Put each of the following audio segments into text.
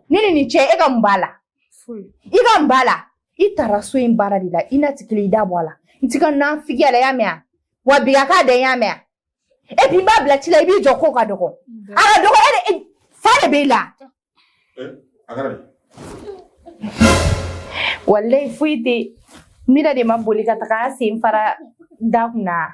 Ne ni nin cɛ e ka mun b'a la i ka mun b'a la i taara so in baara de la i na tigi i da bɔ a la n t'i ka nafigiya la y'a mɛn a wa bi a k'a da y'a mɛn a e bi n b'a bila ci la i b'i jɔ ko ka dɔgɔ a ka dɔgɔ e fa de b'i la walayi foyi tɛ mira de ma boli ka taga sen fara da kunna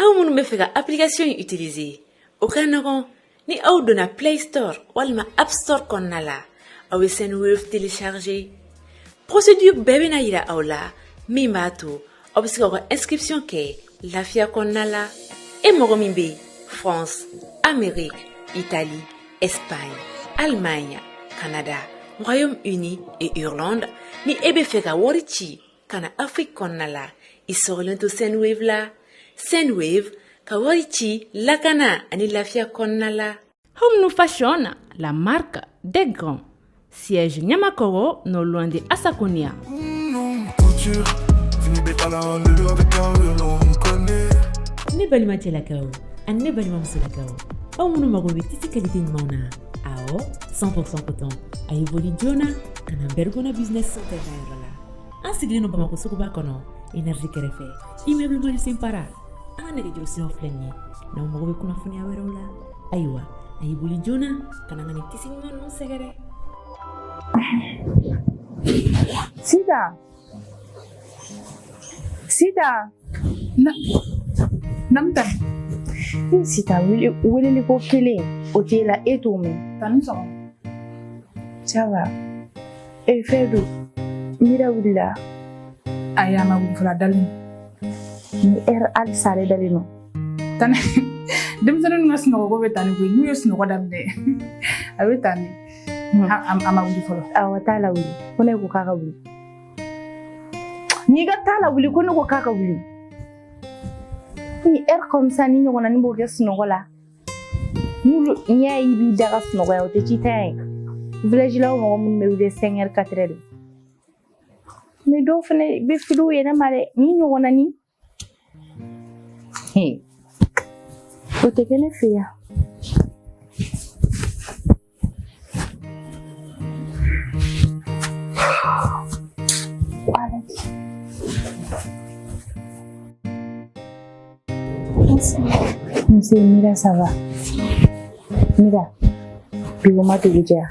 aw minnu bɛ fɛ ka application in utiliser o ka nɔgɔn ni aw donna play store walima app store kɔnɔna la aw bɛ sendwave télécharger procédure bɛɛ bɛna yira aw la min b'a to aw bɛ se ka aw ka inscription kɛ lafiya kɔnɔna la e mɔgɔ min bɛ france amérique italie espagne allemagne canada royaume uni et irlande ni e bɛ fɛ ka wari ci ka na afiriki kɔnɔna la i sɔrɔlen to sendwave la sendwave ka wari ci lakana ani lafiya kɔnɔna la home new fashion la marque des grands siège ɲamakɔrɔ non loin de asaconia ne balima cɛlakaw ani ne balima musolakaw aw minnu mago bɛ tissu qualité ɲumanw na awɔ 100% coton a ye boli joona ka na bɛrikona business center ka yɔrɔ la an sigilen don bamakɔ suguba kɔnɔ energie kɛrɛfɛ immeuble mandiou simpara an ka nɛgɛjuru siraw filɛ nin ye n'aw mago bɛ kunnafoniya wɛrɛw la ayiwa a ye boli joona ka na ka nin tissu ɲuman ninnu sɛgɛrɛ sida sida na namta i sida weleli ko kelen o t'e la e t'o mɛn tan i ni sɔgɔma ça va E eh, fɛn don mira wulila ayi a ma wuli fɔlɔ a dalen nin heure hali sa yɛrɛ a dalen don tan denmisɛnninw ka sunɔgɔko bɛ tan ni koyi n'u ye sunɔgɔ daminɛ a bɛ tan ni a ma wuli fɔlɔ awɔ t'a lawuli ko ne ko k'a ka wuli n'i ka t'a lawuli ko ne ko k'a ka wuli nin heure comme ça nin ɲɔgɔnna n'i b'o kɛ sunɔgɔ la N'olu n'i y'a ye i b'i da ka sunɔgɔ yan o tɛ ci t'a ye village la mɔgɔ minnu bɛ wuli cinq heures quatre heures de mais dɔw fɛnɛ bɛ fili u yɛrɛ ma dɛ nin ɲɔgɔnna nin o tɛ kɛ ne fɛ yan Mzee, mira ça va, mira bigoma dugu jɛya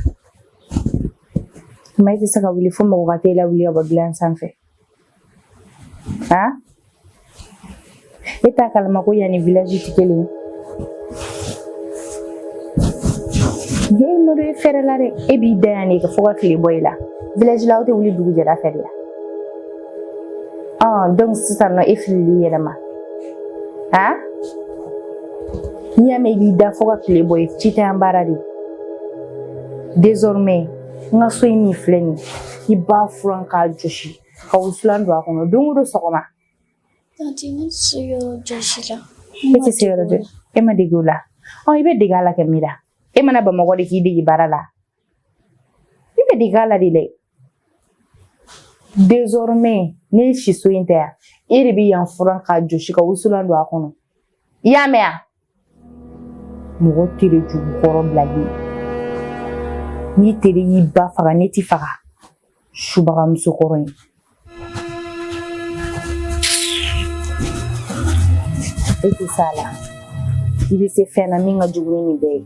ma i tɛ se ka wuli fo mɔgɔ ka t'e lawuli ka bɔ gilan sanfɛ ah e t'a kalama ko yan ni village ti kelen ye nɔ e fɛrɛla de e b'i da yan de ka fo ka tile bɔ i la village la aw tɛ wuli dugujɛda fɛ de la ah donc sisan nɔ e filili yɛlɛma ah n'i y'a mɛn i b'i da fo ka tile bɔ i ci tɛ yan baara de désormais n ka so in min filɛ nin ye k'i b'a furan k'a jɔsi ka wusulan don a kɔnɔ don o don sɔgɔma e tɛ se yɔrɔ jɔsi la e ma dege o la ɔ i bɛ dege a la kɛ mira e ma na bamakɔ de k'i dege baara la i bɛ dege a la de dɛ désormais ne siso in tɛ yan e de bɛ yan furan k'a jɔsi ka wusulan don a kɔnɔ i y'a mɛn wa mɔgɔ tere jugu kɔrɔ bilahi ni tere y'i ba faga ne ti faga subaga musokɔrɔ in e tɛ s'a la i bɛ se fɛn na min ka jugu ni nin bɛɛ ye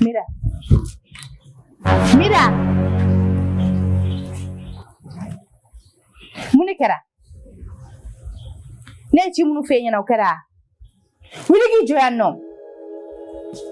Mira. Mira. mun de kɛra ne ye ci minnu f'e ɲɛna o kɛra wuli k'i jɔ yan nɔ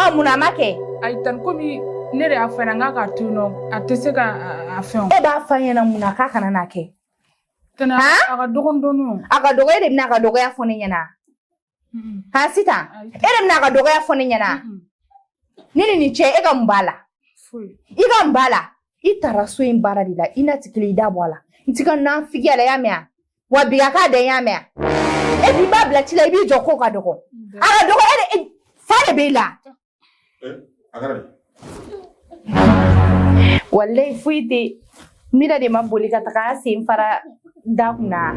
ɔ munna a ma kɛ ayi tanti komi ne de y'a f'a ɲɛna k'a k'a to yen nɔ a tɛ se ka a fɛn e b'a f'a ɲɛna mun na k'a kana n'a kɛ tɛnɛ a ka dɔgɔn dɔɔni o a ka dɔgɔ e de bɛna a ka dɔgɔya fɔ ne ɲɛna ha sitan e de bɛna a ka dɔgɔya fɔ ne ɲɛna ne ni nin cɛ e ka mun b'a la i ka mun b'a la i tara so in baara de la i n'a ti kelen i da bɔ a la n t'i ka nafigiya la i y'a mɛn a wa bi ka k'a dan ye i y'a mɛn e b'i b'a bila ci la i b'i jɔ ko ka dɔgɔ a ka dɔgɔ e de fa de b'i la. walayi foyi tɛ mira de ma boli ka taga a sen fara da kunna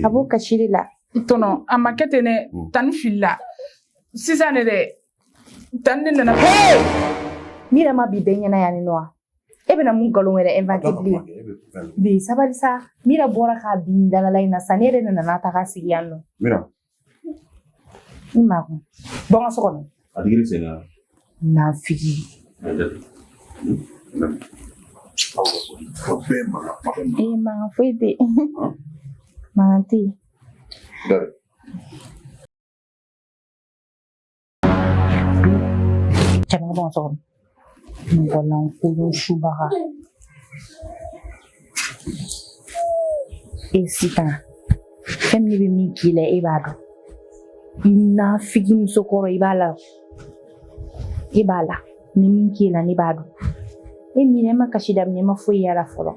a b'o kasi de la. tɔntɔn a ma kɛ ten dɛ tanti filila sisan de dɛ tanti de nana. mira ma bin bɛɛ ɲɛna yan ni nɔ wa. e bɛna mun nkalon wɛrɛ inventer bilen bi sabali sa mira bɔra ka bin dalala in na sa ne yɛrɛ de nana a ta k'a sigi yan nɔ mira i makun bɔ n ka so kɔnɔ a digira i sen na nafigi ee mankan foyi tɛ mankan tɛ yen Jamana bɔ so kɔnɔ mɔgɔ lankolon subaga e Sitan fɛn min bɛ min k'i la e b'a dɔn i nafigi musokɔrɔ i b'a la e b'a la ni min k'i la ne b'a dɔn e minɛ ma kasi daminɛ ma foyi y'a la fɔlɔ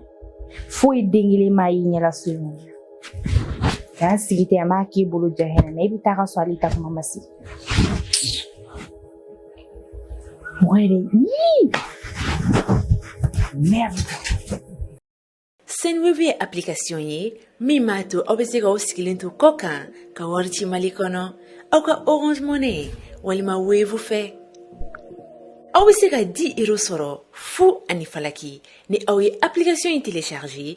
foyi den kelen ma y'i ɲɛ la so in kɔnɔ k'an sigi ten an b'a k'i bolo jahɛrɛ na i bɛ taa ka sɔrɔ hali taa kuma ma se Muere. Merde. Sendwave ye application ye min b'a to aw bɛ se ka aw sigilen to kɔkan ka wari ci mali kɔnɔ aw ka orange money walima wave fɛ aw bɛ se ka 10 euro sɔrɔ fu ani falaki ni aw ye application in télécharger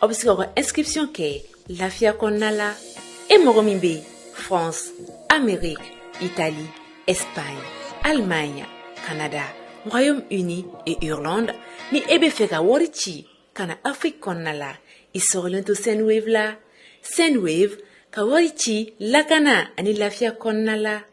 aw bɛ se k'aw ka inscription kɛ lafiya kɔnɔna la e mɔgɔ min bɛ France Amérique Italie Espagne Allemagne Canada Royaume-Uni et Irlande ni e bɛ fɛ ka wari ci ka na Afrique kɔnɔna la i sɔgɔlen to Sendwave la Sendwave ka wari ci lakana ani lafiya kɔnɔna la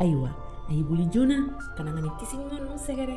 ayiwa a y'i boli joona ka na ni kisi ɲuman sɛgɛrɛ